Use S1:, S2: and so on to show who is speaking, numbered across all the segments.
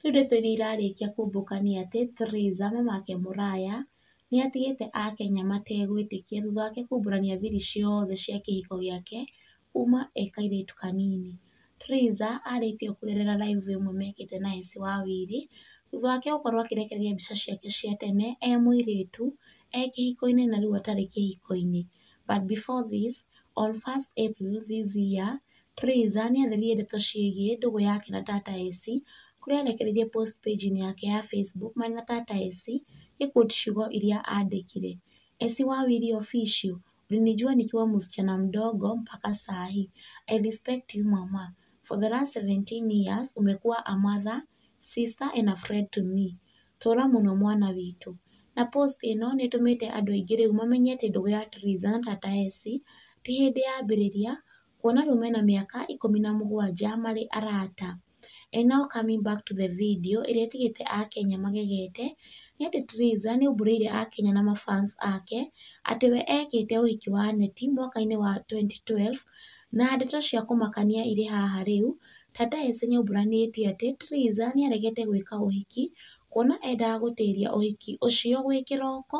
S1: Rĩu ndeto iria irarĩkia kũmbũka nĩ atĩ, Theresa mamake Mũraya nĩ atigĩte Akenya mategwĩtĩkia thutha wake kumbũrania thiri ciothe cia kĩhiko gĩake kuma e kairĩtu kanini. Theresa arĩtie kũgerera live ĩmwe mekĩte na Esi wa Wiri, thutha wake gũkorwo akĩrekereria mbica ciake cia tene e mũirĩtu e kĩhiko-inĩ na rĩu atarĩ kĩhiko-inĩ. But before this, on first April this year, Theresa nĩ atheririe ndeto ciĩgiĩ ndũgũ yake na Tata AC kũrĩa arekereirie post page-inĩ yake ya Facebook marĩ na Tata AC gĩ quote ciugo iria andĩkire, Esi wawili official, ulinijua nikiwa msichana mdogo mpaka saa hii, I respect you mama, for the last 17 years umekuwa a mother, sister and a friend to me, tũra mũno mwana witũ. Na post ĩno nĩ ĩtũmĩte andũ aingĩ rĩu mamenye atĩ ndũgũ ya Theresa na Tata AC ti hĩndĩ yambĩrĩria Kuona rĩu mena mĩaka ikũmi na mũgwanja marĩ arata. And now coming back to the video ĩrĩa ĩtigĩte akenya magegete, nĩ atĩ Triza nĩ aumbũrĩire akenya na ma fans ake atĩ we ekĩte ũhiki wa neti mwaka-inĩ wa twenty twelve, na ndeto cia kũmakania irĩ haha rĩu, Tata Ese nĩ aumbũranĩtie atĩ Triza nĩ aregete gwĩka ũhiki, kuona endaga gũtĩria ũhiki ũcio gwĩ kĩroko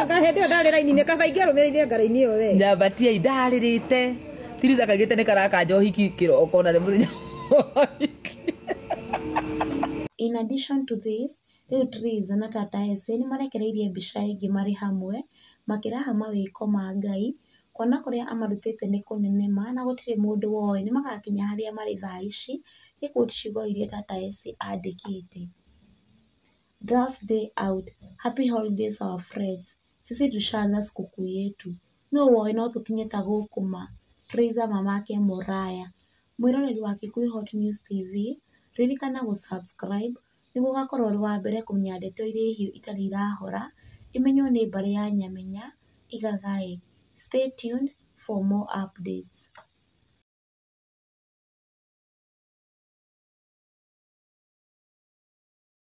S2: Anga hende
S3: ndarä raini nä kaba ingä rå mä rä ire ngarainä ä yo we nyambatia indarä rä
S2: te tiriza kagä te nä karaka njohiki kä roko na nä må thenya
S1: In addition to this, rĩu Triza na Tata Ese nĩ marekereirie mbica ĩngĩ marĩ hamwe makĩraha mawĩko ma Ngai kuona kũrĩa amarutĩte nĩ kũnene ma na gũtirĩ mũndũ woĩ nĩ magakinya harĩa marĩ thaa ici, nĩ quote ciugo iria Tata Ese andĩkĩte. Girls day out, happy holidays our friends, sisi tushaanza sikukuu yetu, no woĩ no tũkinye ta gũkũ ma, Praiser mama ake mũraya. Mwĩroreri wa Kikuyu Hot News TV, ririkana gũ subscribe nĩguo ũgakorwo ũrĩ wa mbere kũmenya ndeto iria hiũ itarĩ irahora, ĩmenywo nĩ mbarĩ ya Nyamenya, igagaĩ. Stay tuned for more updates.